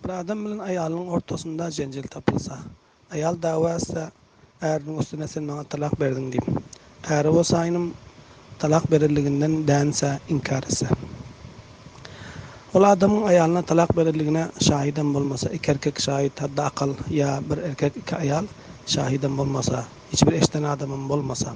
Bir adam bilen aýalynyň ortasynda jenjel tapylsa, aýal dawa etse, äriniň üstüne sen maňa talak berdiň diýip, äri bolsaýynm talak berenliginden dänse, inkär etse. Ol adamyň aýalyna talak berenligine şahydam bolmasa, iki erkek şahyt, hatda akal ýa bir erkek, iki aýal şahydam bolmasa, hiç bir eşiden adamam bolmasa,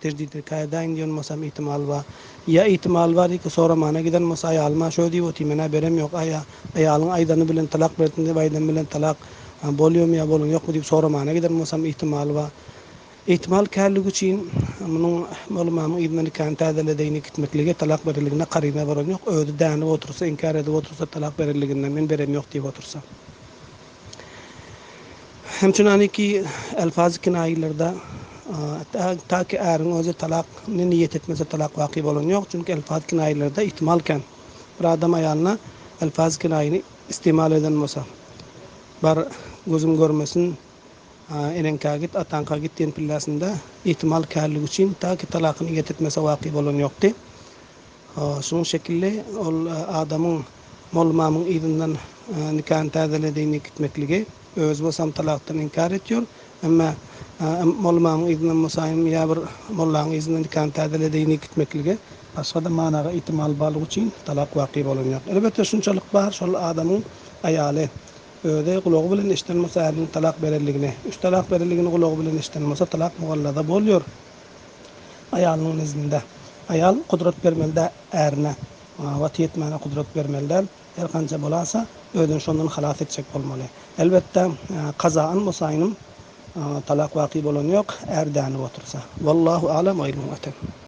Terjide käýedäýiň diýen bolsam ihtimal bar. Ýa ihtimal bar diýki soramana giden bolsa aýalyma şöý diýip otyr menä berem ýok aýa aýalyň aýdany bilen talak bersin diýip aýdan bilen talak bolýamy ýa bolany ýokmy diýip soramana giden bolsam ihtimal bar. Ihtimal kärligi üçin munuň molumamyň yzyna nikany täzeledeýini gitmekligi talak berenligine karyna bolan ýok özi dänip otursa inkär edip otursa talak berenliginden men berem ýok diýip otursa. Hemçinaniki elfazy kinaýalarda taky äriň özi talak ne niýet etmese talak waky bolany ýok, çünki elfazy kinaýalarda ihtimal kän. Bir adam aýalyna elfazy kinaýany istimal eden bolsa, bar gözüm görmesin, eneňkä git, ataňka git diýen pillesinde ihtimal känligi üçin taky talak niýet etmese waky bolany ýokdy. Şunuň şekilli ol adamyň mollamamyň yzyndan nikany täzeledigiňi gitmekligi, özi bolsam talakdan inkär etýär. Emma mollamamyň yzyndan bolsaýym ýa bir mollaň yzyndan nikany täzeledigiňi gitmekligi, başga-da managa ihtimal barlygy üçin talak waky bolan ýok. Elbetde şunçalyk bar, şol adamyň aýaly özi gulagy bilen eşiden bolsa äriniň talak berenligini, üç talak berenligini gulagy bilen eşiden bolsa talak mugallaza bolýar. Aýalynyň nezdinde. Aýal gudrat bermeli-dä ärine. Oňa wagty ýetmäne gudrat bermeli däl. Her hanja bolasa, özüni şondan halas etjek bolmaly. Elbetde, kazaýan bosaýynm, talak waky bolany ýok, är dänip otursa. Wallahu alam oýlanyp otur.